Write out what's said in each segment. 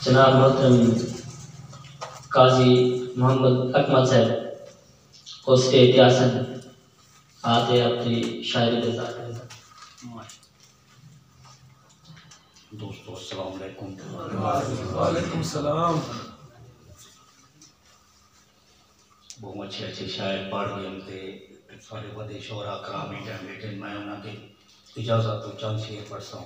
جناب محترم قاضی محمد اکمل صاحب اس کے اتیاسن آتے اپنی شاعری دے ذات کریں دوستو السلام علیکم وعلیکم السلام بہت اچھے اچھے شاعر پڑھ گئے ہم تے سارے بڑے شعرا کرامی ٹائم بیٹھے میں انہاں دے اجازت تو چند شعر پڑھ ساں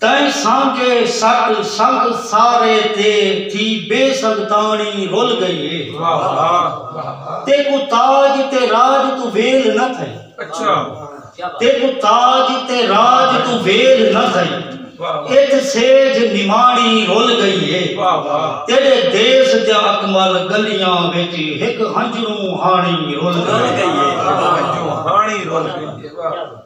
تئیں سانگے سٹ سنگ سارے تے تھی بے سنگتاݨی رل ڳئی ہے تیکوں تاج تے راج توں ویل نہ تھئی تیکوں تاج تے راج توں ویل نہ تھئی ات سیج نماݨی رل ڳئی ہے تیݙے دیس دیاں اکمل ڳلیاں وچ ہک ہنجروں ہاݨی رل ڳئی ہے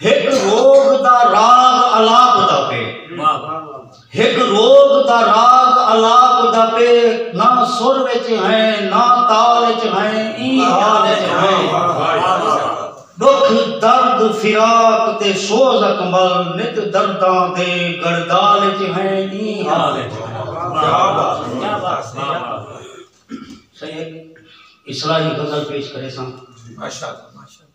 ہک روگ دا راگ الاپ دا پے ہک روگ دا راگ الاپ دا پے نہ سر وچ ہیں نہ تال وچ ہیں ای حال وچ ہیں دکھ درد فراق تے سوز اکمل نت درداں دے گڑدال وچ ہیں ای حال وچ ہیں اصلاحی غزل پیش کرے سان ماشاءاللہ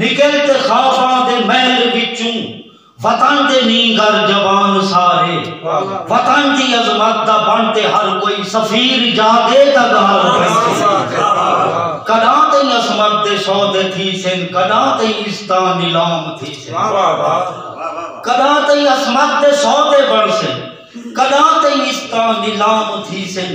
نکل تے خواباں دے محل وچوں وطن دے نینگر جوان سارے وطن دی عظمت دا بن تے ہر کوئی سفیر جاگے تاں ڳالھ بنسے کݙاں تئیں عصمت دے سودے تھیسن کݙاں تئیں عزتاں نیلام تھیسن کݙاں تئیں عصمت دے سودے بنسن کݙاں تئیں عزتاں نیلام تھیسن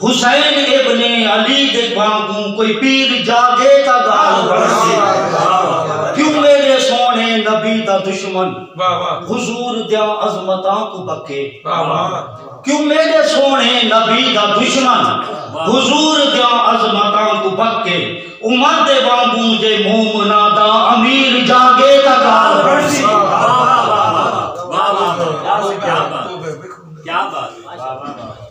حسین ابن علی دے وانگوں کوئی پیر جاگے تاں گالھ بنڑسی کیوں میڈے سوہنے نبی دا دشمن حضور دیاں عظمتاں کوں بکے کیوں میڈے سوہنے نبی دا دشمن حضور دیاں عظمتاں کوں بکے عمر دے وانگوں جے مومناں دا امیر جاگے تاں گالھ بنڑسی کیا بات کیا بات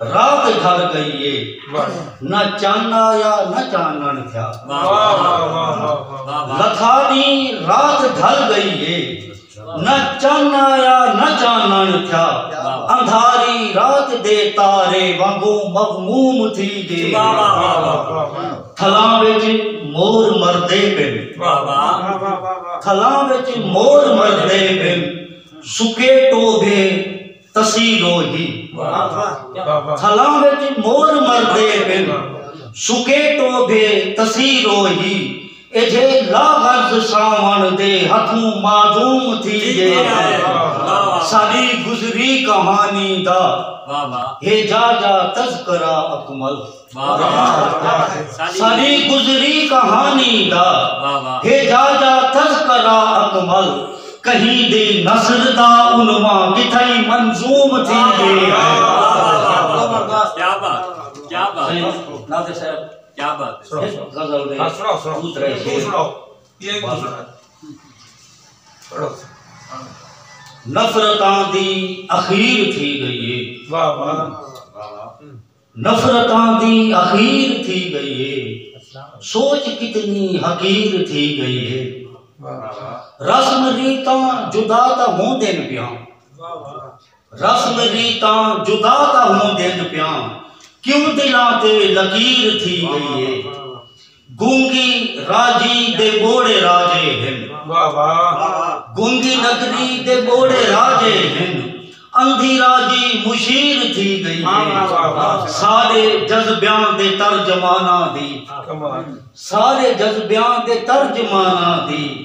رات گھر گئی ہے نہ چن آیا نہ چانن تھیا لکھا دی رات گھر گئی ہے نہ چن آیا نہ چانن تھیا اندھاری رات دے تارے وانگو مغموم تھی گے تھلاں وچ مور مردے پن تھلاں وچ مور مردے پن سکے ٹوبے تسی لو ہی تھلاں وچ مور مردے بن سکے ٹوبھے تسی لو ہی ایجھے لا غرض ساون دے ہتھوں معدوم تھی گے ساڈی گزری کہانی دا ہے جا جا تذکرہ اکمل ساری گزری کہانی دا ہے جا جا تذکرہ اکمل کہیں دے نظر دا علماء کتھائی منظوم تھی دے کیا بات کیا بات کیا بات غزل دے سناؤ سناؤ سناؤ نفرتاں دی اخیر تھی گئی ہے نفرتاں دی اخیر تھی ڳئی ہے سوچ کتنی حقیر تھی ڳئی ہے رسم ریتاں جدا تاں ہوندین پیاں رسم ریتاں جدا تاں ہوندین پیاں کیوں دلاں تے لکیر تھی ڳئی ہے گونگی راجی دے ٻوڑے راجے ہن۔ گونگی نگری دے ٻوڑے راجے ہن۔ اندھی راجی مشیر تھی ڳئی ہے۔ سارے جذبیاں دے ترجماناں دی۔ سارے جذبیاں دے ترجماناں دی۔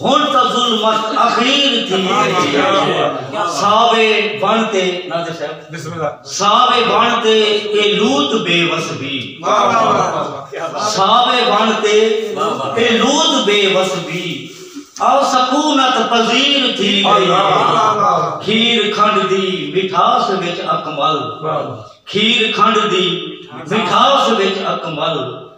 ہن تاں ظلمت اخیر تھی ہے ساوے بݨ تے نادر صاحب ساوے بݨ تے اے لوط بے وس بھی ساوے بݨ تے اے لوط بے وس بھی او سکونت پذیر تھی گئی کھیر کھنڈ دی مٹھاس وچ اکمل کھیر کھنڈ دی مٹھاس وچ اکمل